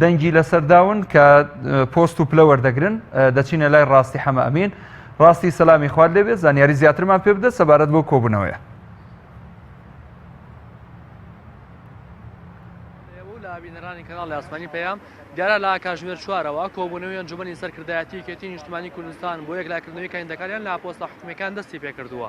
دەنگی لەسەرداون کە پۆست و پلە وەردەگرن دەچینە لای ڕاستی حەمە ئەمین ڕاستی سەلامی خوارد لێبێت زانیاری زیاترمان پێ بدە سەبارەت بۆ کۆبوونەوەیە بینەرانی کەناڵی ئاسمانی پەیام دیارە لە کاژمێر چوارەوە کۆبوونەوەی ئەنجومەنی سەرکردایەتی کێتی نیشتمانی کوردستان بۆ یەکلاکردنەوەی کاندەکانیان لە پۆستە حکومەکان دەستی پێکردووە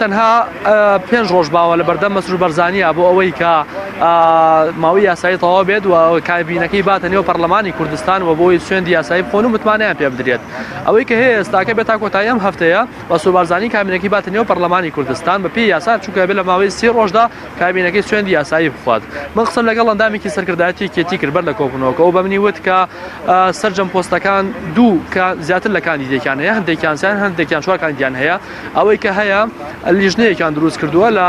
تەنها پێنج ڕۆژ باوە لە بەردەم مەسرور بەرزانیە بۆ ئەوەی کە ماوەی یاسایی تەواو بێت و کابینەکەی باتە نێو پەرلەمانی کوردستان و بۆی سوێندی یاسایی بخۆن و متمانەیان پێ بدرێت ئەوەی کە هەیە ئێستاکە بێت تا کۆتایی ئەم هەفتەیە مەسرور بەرزانی کابینەکەی باتە نێو پەرلەمانی کوردستان بە پێی یاسا چونکە بێت لە ماوەی سی ڕۆژدا کابینەکەی سوێندی یاسایی بخوات من قسەم لەگەڵ ئەندامێکی سەرکردایەتی یەکێتی کرد بەر لە کۆبوونەوەکە و بە منی وت کە سەرجەم پۆستەکان دوو کە زیاتر لە کاندیدێکیان هەیە هەندێکیان سیان هەندێکیان چوار کاندیدیان هەیە ئەوەی کە هەیە لیژنەیەکیان دروست کردووە لە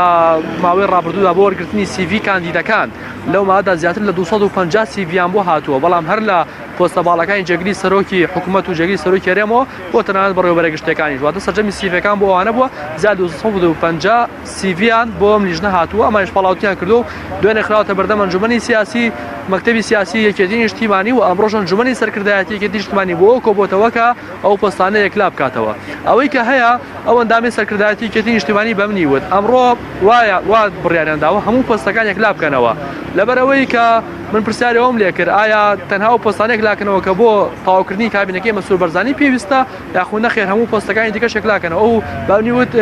ماوەی ڕابردوودا بۆ وەرگرتنی سیڤی کاندیدەکان لەو مادا زیاتر لە 250 سیڤیان بۆ هاتووە بەڵام هەر لە پۆستە باڵەکانی جێگری سەرۆکی حکوومەت و جێگری سەرۆکی هەرێمەوە بۆ تەنانەت بەڕێوەبەرە گشتەکانی واتە سەرجەمی سیڤەکان بۆ ئەوانە بووە زیاد 250 سیڤیان بۆ ئەم لیژنە هاتووە ئەمانش پاڵاوتیان کردو دوێنێ خراوەتە بەردەم ئەنجومەنی سیاسی مەکتەبی سیاسی یەکێتی نیشتیمانی و ئەمڕۆژ ئەنجومەنی سەرکردایەتی یەکێتی نیشتیمانی بۆ کۆبۆتەوە کە ئەو پۆستانە یەکلا بکاتەوە. ئەوەی کە هەیە، ئەو ئەندامەی سەرکردایەتی یەکێتی نیشتیمانی بە منی وت، ئەمڕۆ وایە وا بڕیاریان داوە هەموو پۆستەکان یەکلا بکەنەوە. لەبەر ئەوەی کە من پرسیاری ئەوەم لێ کرد ئایا تەنها ئەو پۆستانە یەکلا کەنەوە کە بۆ تەواوکردنی کابینەکەی مەسرور بەرزانی پێویستە یاخود نەخێر هەموو پۆستەکانی دیکەش یەکلا کەنەوە؟ ئەو بە منی وت،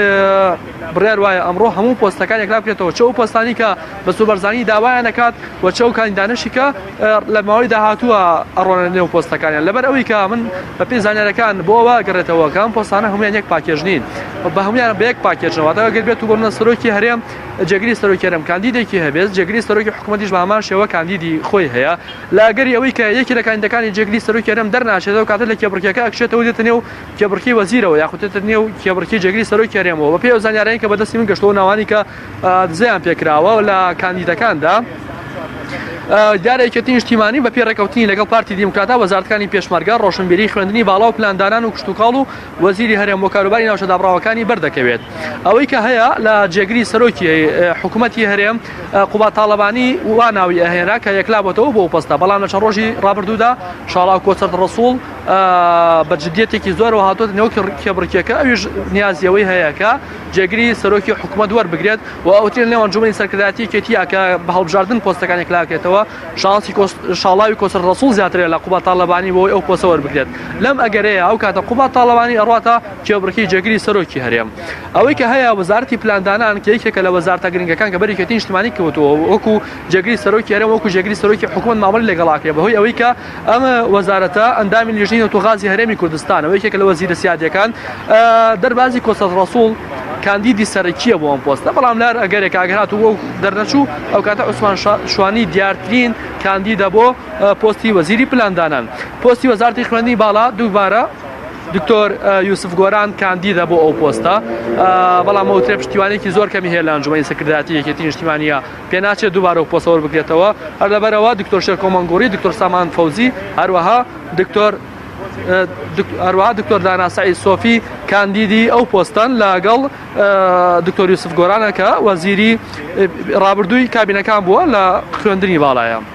بڕیار وایە ئەمڕۆ هەموو پۆستەکان یەکلا بکرێتەوە چ ئەو پۆستانەی کە مەسرور بەرزانی داوایان ئەکات و چ ئەو کاندیدانەشی کە لە ماوەی داهاتووە ئەڕۆنە نێو پۆستەکانیان لەبەر ئەوی کە من بە پێی زانانەکان بۆ ئەوە گەڕێتەوە کەم پۆستانە هەمویان یەک پاکێژ نین بە هەمویان بە یەک پاکێژەوە تا گەر بێت و بۆمە سەرۆکی هەرێم جێگری سەرۆکێرم کاندیدێکی هەبێت جێگری سەرۆکی حکوومەتیش بامان شێوە کاندیدی خۆی هەیە لاگەری ئەوی کە یەکی لە کاندەکانی جێگری سەرۆکێرم دەرناچێتەوە کاتە لە کێبڕکێکە ئەکشێتەوە دێتە نێو کێبڕکی وەزیرەوە یاخوتێتە نێو کێبڕکی جێگری سەرۆکی هەرێمەوە بە پێی ئەو زانانیان کە بەدەستی من گەشتەوە ناوانی کە دزەیان پێکراوە لە کاندیدەکاندا دیارە یەکێتی نیشتیمانی بە پێ ڕێکەوتنی لەگەڵ پارتی دیموکراتا وەزارتەکانی پێشمەرگە ڕۆشنبیری خوێندنی باڵا و پلاندانان و کشتتوکاڵ و وەزیری هەرێم و کاروباری ناوچە دابڕاوەکانی بەردەکەوێت ئەوەی کە هەیە لە جێگری سەرۆکی حکوومەتتی هەرێم قوبا تاالبانی واناوی ئەهێنا کە یەکلابەتەوە بۆ پستە بەڵام لە چەند ڕۆژی ڕابردوودا شاڵاو کۆچەر ڕسوڵ بە جددیەتێکی زۆر و هاتۆت نێو کێبڕکێکە ئەویش نیازیەوەی هەیەکە جێگری سەرۆکی حکومەت وەربگرێت و ئەوترێن لێوان جومەی سەرکردایەتی یەکێتیە کە بە هەڵبژاردن پۆستەکان یەکلاکرێتەوە شانسی شاڵاوی کۆسەر ڕسوڵ زیاترە لە قوبا تاالبانی بۆی ئەو پۆسە وەربگرێت لەم ئەگەرەیە ئەو کاتە قوبا تاالبانی ئەڕاتە کێبڕکی جێگری سەرۆکی هەرێم ئەوەی کە هەیە وەزارتی پلاندانان کە یەکێکە لە وەزارتە گرنگەکان کە بەرێکێتی نیشتمانی کەوتەوە وەکو جێگری سەرۆکی هەرێم وەکو جێگری سەرۆکی حکومەت مامەڵی لەگەڵاکرێ بەهۆی ئەوەی کە ئەم وەزارەتە ئەندامی لیژنەی نەوتوغازی هەرێمی کوردستانە و یەکێکە لە وەزیرە سیادیەکان دەربازی کۆسەت ڕەسوڵ کاندیدی سەرەکیە بۆ ئەم پۆستە بەڵام لار ئەگەرێک ئاگرهات و دەرنەچوو ئەو کاتە عوسمان شوانی دیارترین کاندیدە بۆ پۆستی وەزیری پلاندانان پۆستی وەزارتی خوێندی باڵا دووبارە دکتۆر یوسف گۆران کاندیدە بۆ ئەو پۆستە بەڵام ئەوترێ پشتیوانێکی زۆر کەمی هەیە لە ئەنجومی سەکرداتی یەکێتی نیشتیمانە پێناچێت دووبارە پۆستە وەربگرێتەوە، هەر لەبەرئەوە دکتۆر شێرکۆ مەنگوڕی، دکتۆر سامان فەوزی، هەروەها دکتۆر هەروەها دکتۆر دانا سەعید سۆفی کاندیدی ئەو پۆستەن لەگەڵ دکتۆر یوسف گۆرانە کە وەزیری ڕابردووی کابینەکان بووە لە خوێندنی باڵایە.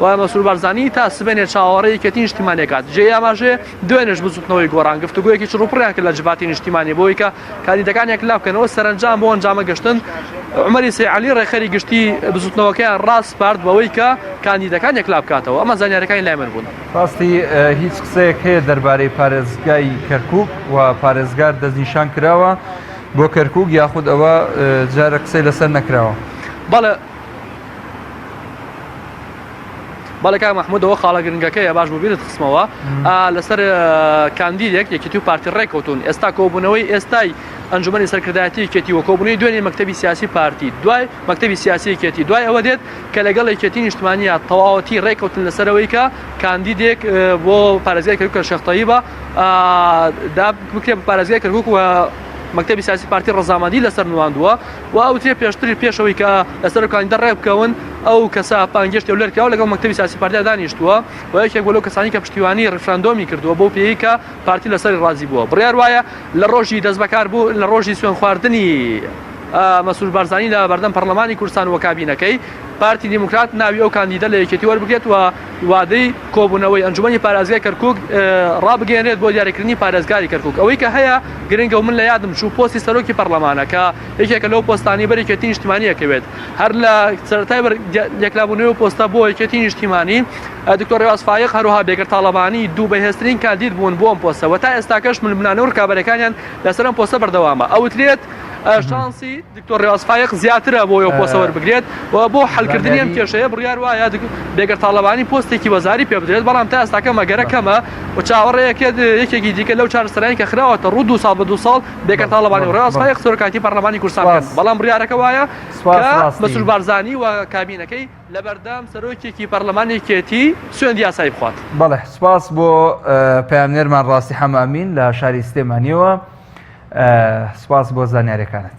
و مەسرور بارزانی تا سبەینێ چاوەڕێی یەکێتی نیشتیمانی کات جێی ئاماژەیە دوێنێش بزوتنەوەی گۆڕان گفتوگۆیەکی چڕوپڕیان کرد لە جڤاتی نیشتیمانی بۆی کە کاندیدەکان یەکلا بکەنەوە سەرەنجام بۆ ئەنجامە گەشتن عمەری سەیعەلی ڕێکخەری گشتی بزوتنەوەکەیان ڕاسپارد بەوەی کە کاندیدەکان یەکلا بکاتەوە ئەمە زانیارەکانی لای من بوون ڕاستی هیچ قسەیەک هەیە دەربارەی پارێزگای کەرکک و پارێزگار دەستنیشان کراوە بۆ کەرکک یاخود ئەوە جارە قسەی لەسەر نەکراوە بەڵێ بەڵێ کاک مەحمود ئەوە خاڵە گرنگەکەیە باش بوو بیرت خستمەوە لەسەر کاندیدێک یەکێتی و پارتی ڕێککەوتون ئێستا کۆبوونەوەی ئێستای ئەنجومی سەرکردایەتی کێتی وەکۆبنی دوێنێ مەکتتەبی سیاسی پارتی دوای مەکتتەبی سیاسی کێتی دوای ئەوە دێت کە لەگەڵ یەکێتی نیشتمانیا تەواوەتی ڕێککەوتن لەسەرەوەی کە کاندیدێک بۆ پارێزگای کەرکە شەختایی بە دا بکرێت پارێزگای کەرکک و مەکتتەبی سیاسی پارتی ڕزامەندی لەسەر نواندووە و ئەوترێ پێشتری پێش ئەوەی کە لەسەر کاندیدا ڕێک بکەون ئەو کەسە پانگێشتی و لەرکراوە لەگەڵ مەکتەبی سیاسی پارتیا دانیشتووە و یەکێک بۆ لەو کەسانی کە پشتیوانی ڕیفراندۆمی کردووە بۆ پێی کە پارتی لەسەری ڕازی بووە بڕیار وایە لە ڕۆژی دەست بەکار بوو لە ڕۆژی سوێن خواردنی مەسرور بارزانی لە بەردەم پەرلەمانی کوردستان و کابینەکەی پارتی دیموکرات ناوی ئەو کاندیدە لە یەکێتی وەربگرێت و وادەی کۆبوونەوەی ئەنجومەنی پارێزگای کەرکوک ڕابگەیەنرێت بۆ دیاریکردنی پارێزگاری کەرکوک ئەوەی کە هەیە گرنگە و من لە یادم چوو پۆستی سەرۆکی پەرلەمانە کە یەکێکە لەو پۆستانی بەر یەکێتی نیشتمانی ئەکەوێت هەر لە سەرەتای بەر یەکلابوونەوەی و پۆستە بۆ یەکێتی نیشتیمانی دکتۆر ڕێواز فایق هەروها بێگەر تاڵەبانی دوو بەهێزترین کاندید بوون بۆ ئەم پۆستە و تا ئێستاکەش ململانێ و ڕکابەریەکانیان لەسەر ئەم پۆستە بەردەوامە ئەوترێت شانسی دکتۆر ڕێواز فایەق زیاترە بۆ ئەو پۆستە وەربگرێت و بۆ حەلکردنی ئەم کێشەیە بڕیار وایە بێگەر تاڵەبانی پۆستێکی وەزاری پێ بدرێت بەڵام تا ئێستاکە مەگەرە کەمە و چاوەڕێیەکێت یەکێکی دیکە لەو چارەسەرانی کە خراوەتە ڕوو دو ساڵ بە دو ساڵ بێگەر تاڵەبانی و ڕێواز فایەق سەرۆکایەتی پەرلەمانی کوردستان بەڵام بڕیارەکە وایە مەسرور بارزانی و کابینەکەی لە بەردەم سەرۆکێکی پەرلەمانی یەکێتی سوێند یاسایی بخوات بەڵێ سوپاس بۆ پەیامنێرمان ڕاستی حەمامین لە شاری سلێمانیەوە سوپاس بۆ زانیارەکانت.